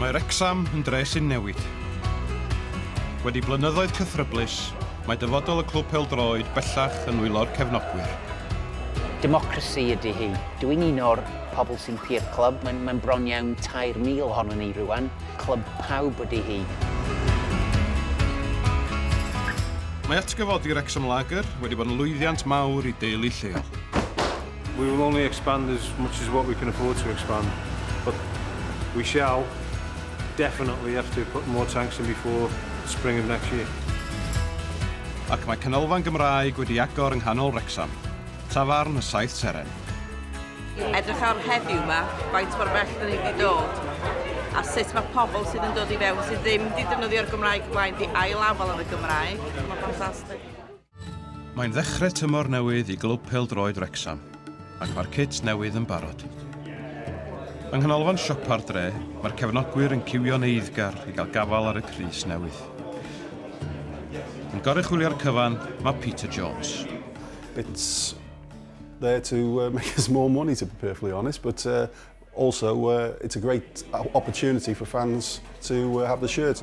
Mae Wrecsam yn dre sy'n newid. Wedi blynyddoedd cythryblus, mae dyfodol y clwb pêl-droed bellach yn nwylo'r cefnogwyr. Democracy ydy hi. Dw i'n un o'r pobl sy'n pur clwb. Mae'n mae bron iawn 3,000 ohonon ni rwan. Clwb pawb ydy hi. Mae atgyfodi Wrecsam Lager wedi bod yn lwyddiant mawr i deulu lleol. We will only expand as much as what we can afford to expand, but we shall definitely have to put more tanks in before spring of next year. Ac mae canolfan Gymraeg wedi agor yng nghanol Wrecsam, tafarn y Saith Seren. Edrych ar heddiw yma, faint mor bell dyn ni wedi dod, a sut mae pobl sydd yn dod i fewn sydd ddim wedi defnyddio'r Gymraeg blaen wedi ail-afal yn y Gymraeg. Mae'n ffantastig. Mae'n ddechrau tymor newydd i glwb pêl-droed Wrecsam, ac mae'r cit newydd yn barod. Yng nghanolfan siopa'r dre, mae'r cefnogwyr yn ciwio'n eiddgar i gael gafal ar y crys newydd. Yn goruchwylio'r cyfan, mae Peter Jones. It's there to uh, make us more money, to be perfectly honest, but uh, also uh, it's a great opportunity for fans to uh, have the shirt.